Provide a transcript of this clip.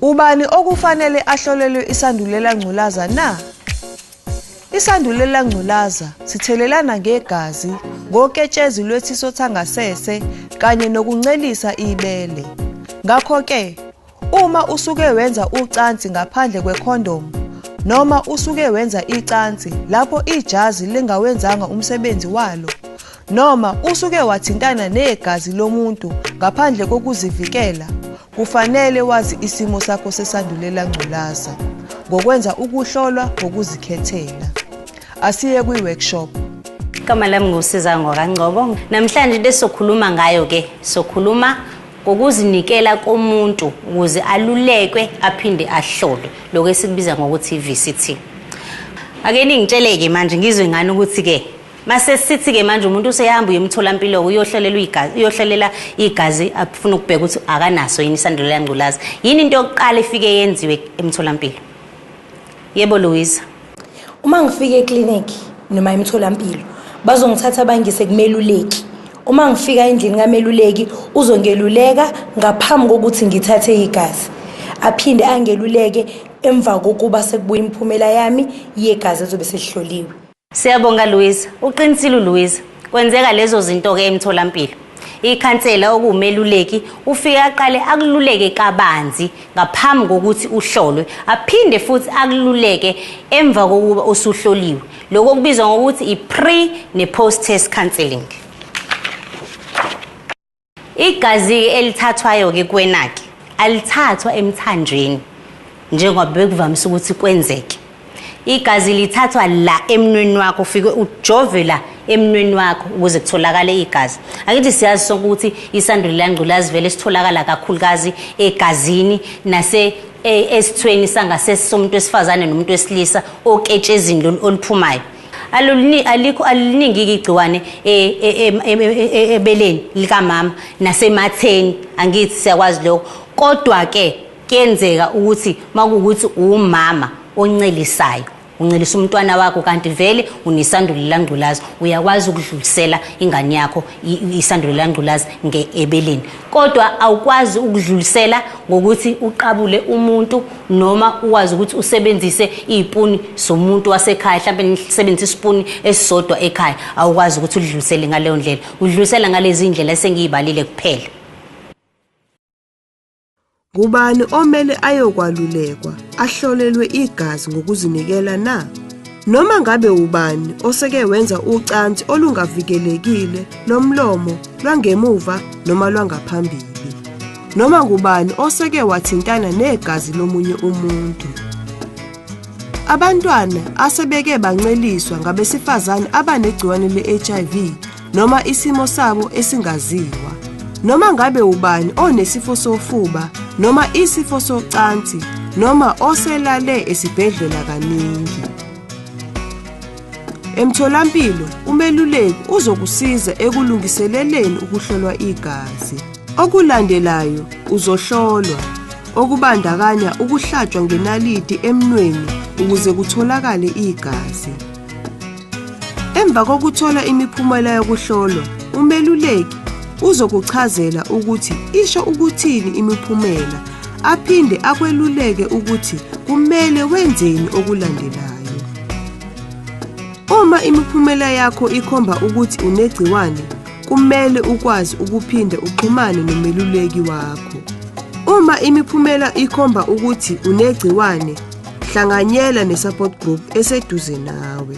Ubani okufanele ahlolelwe isandulela ngculaza na? Isandulela ngculaza sithelelana ngegazi, ngoketshezi lwesiso sangasese kanye nokuncelisa ibele. Ngakho-ke Uma usuke wenza ucansi ngaphandle kwekhondomu noma usuke wenza icansi lapho ijazi lingawenzanga umsebenzi walo noma usuke wathintana negazi lomuntu ngaphandle kokuzivikela kufanele wazi isimo sakho sesandulela ngculaza ngokwenza ukuhlolwa ngokuzikhethela asiye kwi-workshop igama lami ngusizango kangcobo namhlanje lesokhuluma ngayo ke sokhuluma ngokuzinikela komuntu ukuze alulekwe aphinde ahlolwe lokho esikubiza ngokuthi i-VCT ake ningitshele-ke manje ngizwe ngani ukuthi-ke mase sithi-ke manje umuntu useyahamba uyemtholampilo-ke uyohlelela igazi afuna ukubheka ukuthi akanaso yini isandulela ngculazi yini into yokuqala efike yenziwe emtholampilo Yebo Louisa. Uma ngifika eclinic noma emtholampilo bazongithatha bangise kumeluleki. Uma ngifika endlini kameluleki uzongeluleka ngaphambi kokuthi ngithathe igazi. Aphinde angeluleke emva kokuba sekubuya imiphumela yami yegazi ezobe selihloliwe. Siyabonga Louisa, uqinisile uLouisa. Kwenzeka lezo zinto ke emtholampilo. Ikhansela okuwumeluleki ufike aqale akululeke kabanzi ngaphambi kokuthi uhlolwe, aphinde futhi akululeke emva kokuba usuhloliwe. Lokho kubizwa ngokuthi i-pre ne-post test counselling. Igazi-ke elithathwayo-ke kuwena-ke alithathwa emthanjweni njengoba bekuvamise ukuthi kwenzeke. Igazi lithathwa la emnweni wakho ufike ujove la emnweni wakho ukuze kutholakale igazi angithi siyazi sonke ukuthi isandulo langculazi vele sitholakala kakhulukazi egazini nase e, esithweni sangasese somuntu wesifazane nomuntu wesilisa oketshezini lolu oluphumayo Alulini alikho aliningiki igciwane ebeleni likamama nasematheni angithi siyakwazi lokho kodwa ke kuyenzeka ukuthi makuwukuthi umama oncelisayo uncelisa umntwana wakho kanti vele unesandulela ngculazi uyakwazi ukudlulisela ingane yakho isandulela ngculazi ngeebeleni kodwa awukwazi ukudlulisela ngokuthi uqabule umuntu noma ukwazi ukuthi usebenzise izipuni zomuntu wasekhaya mhlawumbe nisebenzise isipuni esisodwa ekhaya awukwazi ukuthi udlulisele ngaleyo ndlela udlulisela ngalezi ndlela esengiyibalile kuphela ngubani omele ayokwalulekwa ahlolelwe igazi ngokuzinikela na noma ngabe ubani oseke wenza ucansi olungavikelekile lomlomo lwangemuva noma lwangaphambili noma ngubani oseke wathintana negazi lomunye umuntu. Abantwana asebeke banceliswa ngabesifazane abanegciwane le-HIV noma isimo sabo esingaziwa. Noma ngabe ubani onesifo sofuba noma isifo socansi noma oselale esibhedlela kaningi. Emtholampilo umeluleki uzokusiza ekulungiseleleni ukuhlolwa igazi. Okulandelayo uzohlolwa okubandakanya ukuhlatshwa ngenaliti emnweni ukuze kutholakale igazi. Emva kokuthola imiphumela yokuhlolwa, umeluleki uzokuchazela ukuthi isho ukuthini imiphumela aphinde akweluleke ukuthi kumele wenzeni okulandelayo. Uma imiphumela yakho ikhomba ukuthi unegciwane, Kumele ukwazi ukuphinde uxhumane nomeluleki wakho. Uma imiphumela ikhomba ukuthi unegciwane, hlanganyela ne-support group eseduze nawe.